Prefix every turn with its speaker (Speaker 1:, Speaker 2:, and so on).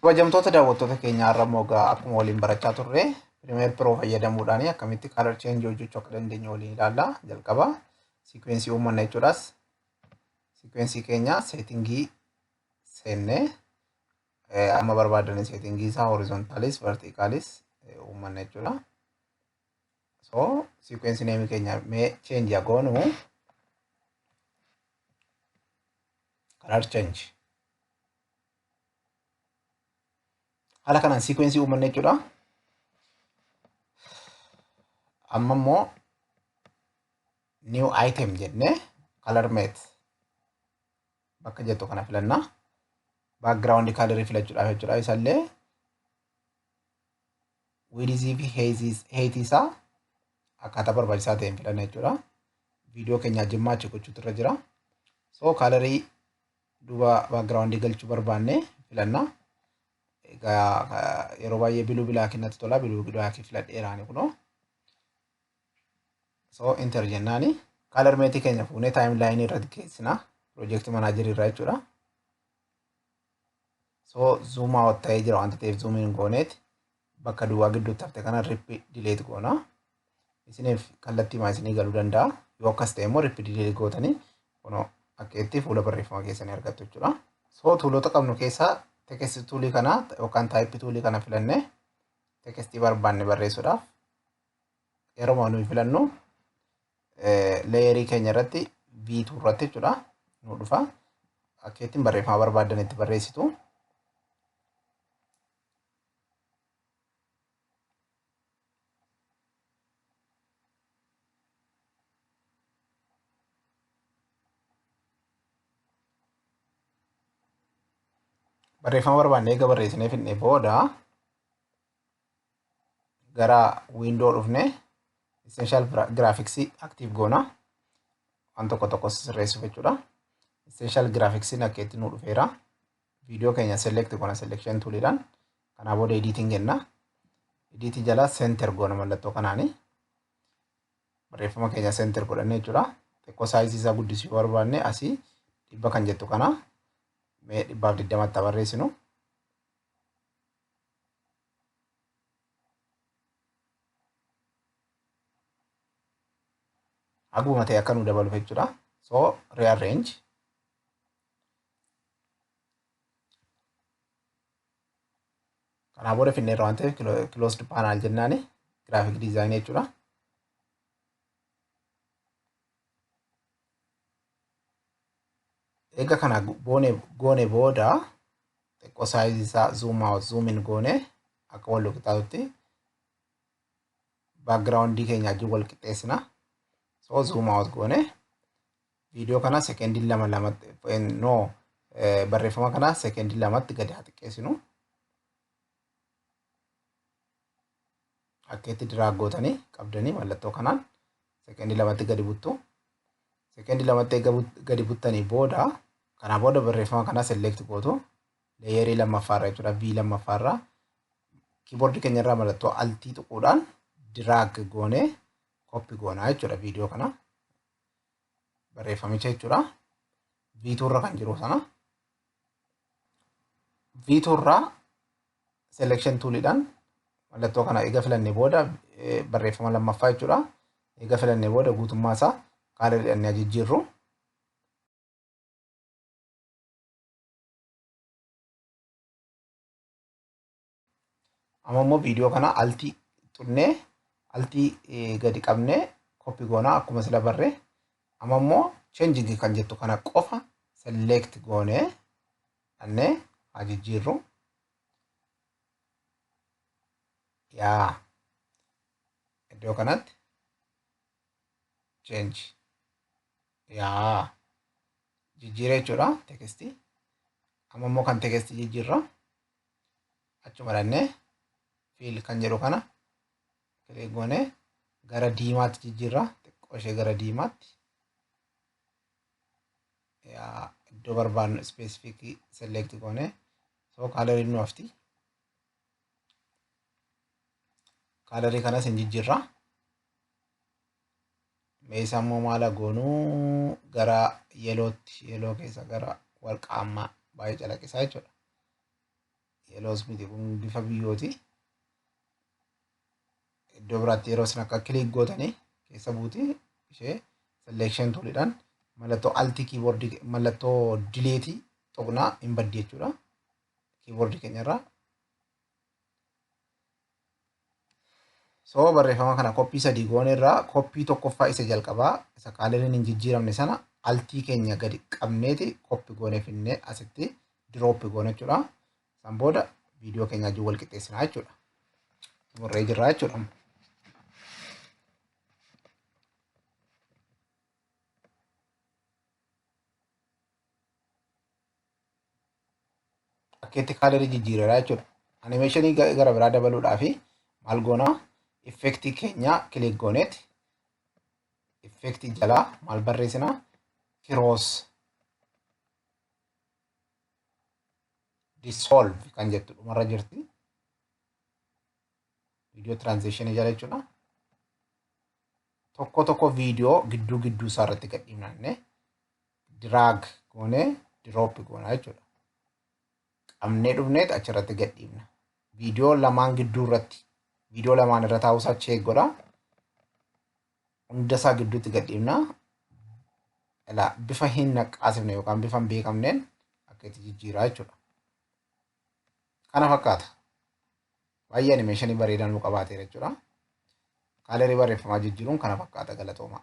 Speaker 1: Kabajamtoota daawwattoota keenya har'a immoo egaa akkuma waliin barachaa turre Premiere Pro fayyadamuudhaan akkamitti color change hojjechuu akka dandeenyu waliin ilaalla. Jalqaba sequence uummanna jechuudhaas sequence keenya seetingii seennee eh, amma barbaadaniin seetingii isaa horizontaalis vertiikaalis uummanna jechuudha. so sequence name keenya mee change yaa goonu color change haala kanaan sequence uumanne jechuudha amma immoo new item jenne color mate bakka jettu kana filanna background color filachuudhaaf jechuudha isallee wiidizii fi heeyitii isaa akkaataa barbaachisaa ta'een filanna jechuudha. Viidiyoo keenya ajjimmaa achi gochuutu irra jira. So kaalarii duuba baakgiraawundii galchuu barbaanne filanna. Egaa yeroo baay'ee biluu bilaakii natti tola biluu bilaakii filadheeraani kunoo. So inter jennaani kaalar meetii keenya fuunee taayim laayinii irratti keessina piroojeektii manaajerii irraa jechuudha. So zoom out ta'ee jira wanta ta'eef zoom in gooneet bakka duwwaa gidduutti hafte kana rip delete goona. Isiniif kallattii maa isinii galuu danda'a. Yoo akkas ta'e immoo rip delete gootanii kunoo akka itti fuula barreeffama keessanii argattu jechuudha. So tuulota qabnu keessaa text tuulii kana yookaan type tuulii kana filannee tekstii barbaanne barreessuudhaaf yeroo nuyi filannu leeyerii keenya irratti V2 irratti jechuudha nu dhufa akka ittiin barreeffama barbaaddan itti barreessitu. Barreeffama barbaadne eega barreessinee fidnee booda gara window dhufne essential graphics active goona waan tokko tokko sirreessuuf jechuudha essential graphics akka itti nu dhufeera viidiyoo keenya select goona selection toolidhaan kanaa booda editing jenna editing jala center goona mallattoo kanaani barreeffama keenya center godhanne jechuudha xiqqoo saayizii isaa guddisuu barbaanne asii dhibba kan jettu kana mee dhibbaaf digdamatti barreessinu Haguma ta'e akka nu dabaluuf jechuudha. So rearrange. Kanaa booda finneerra waan ta'eef closed panel jennaani graphic design jechuudha. Egaa kana boone goone booda xiqqoo saayizii isaa zoom out zoom in goone akka wal qixaatutti baakgiraawundii keenya wajjin wal qixxeessina. So zoom out goone viidiyoo kana sekendii lama lamatti no barreeffama kana sekendii lamatti gadi haa xiqqeessinu. Akka itti diraag gootanii qabdanii mallattoo kanaan sekeendii lamatti gadi buttu. Sekeendii lamatti eega gadi buttanii booda kanaa booda barreeffama kana select gootu leeyerii lammaffaarra jechuudha V lammaffaarra kiiboordii keenyarraa mallattoo altii tuquudhaan diraag goonee koppi goonaa jechuudha viidiyoo kana barreeffamicha jechuudha V2 irra kan jiru sana V2 irraa selection toolidhaan mallattoo kana eega filannee booda barreeffama lammaffaa jechuudha. Eega filannee booda guutummaa isaa kaala jedhannee ajijjiirru. Amma immoo viidiyoo kana altii xunnee altii gadi qabnee koppi goonaa akkuma sila barree amma immoo changing kan jettu kana qofa select goonee Annee haa jijjiirru. Yaa iddoo kanatti change yaa jijjiira jechuudha tekestii. Amma immoo kan tekestii jijjiirra achuma dhannee fiil kan jedhu kana kilik goonee gara diimaatti jijjiirra xiqqoo ishee gara diimaatti. iddoo barbaadnu ispeesifikii selekti goone soo kaalariin nu hafti kaalarii kanas hin jijjiirra meeshaa immoo maala goonuu gara yelootti yeloo keessa gara warqaammaa baay'ee calaqqisaa jechuudha yeloos miti kun bifa biyyooti iddoo biraatti yeroo isin akka kiliik gootanii keessa buutee ishee selection tuulidhaan mallattoo altii kiiboordii mallattoo dileetii tuqnaa hin baddi jechuudha. Kiiboordii keenyarraa. So barreeffama kana koppii sadii goone irraa koppii tokkoffaa isa jalqabaa isa kaaleriin hin jijjiiramne sana altii keenya gadi qabneeti koppi goone finnee asitti dirooppi goone jechuudha. San booda viidiyoo keenya wajjin wal qixxeessinaa jechuudha. Xumurree jirra jechuudha. Akkeetti kaalerii jijjiireera jechuudha. Animeeshinii gara biraa dabaluudhaaf maal goona? Effektii keenya kilik gooneet effektii jalaa maal barreessina? Kiroos dissolve kan jettu dhumarra jirti. Viidiyoo transition jala jechuudha. Tokko tokko viidiyoo gidduu gidduu isaa irratti gad dhiifnanne drag goone drop goona jechuudha. Qabnee dhufneet achirratti gad dhiifna. Viidiyoo lamaan gidduu irratti viidiyoo lamaan irra taa'uusaa cheek godha. hundasaa gidduutti gad dhiibna. Ilaa bifa hin naqqaasifne yookaan bifa hin beekamneen akka itti jijjiiraa jechuudha. Kana fakkaata. Baay'ee animeeshinii bareedaa nu qabaateera jechuudha. Kaalerii barreeffamaa jijjiiruun kana fakkaata galatoomaa.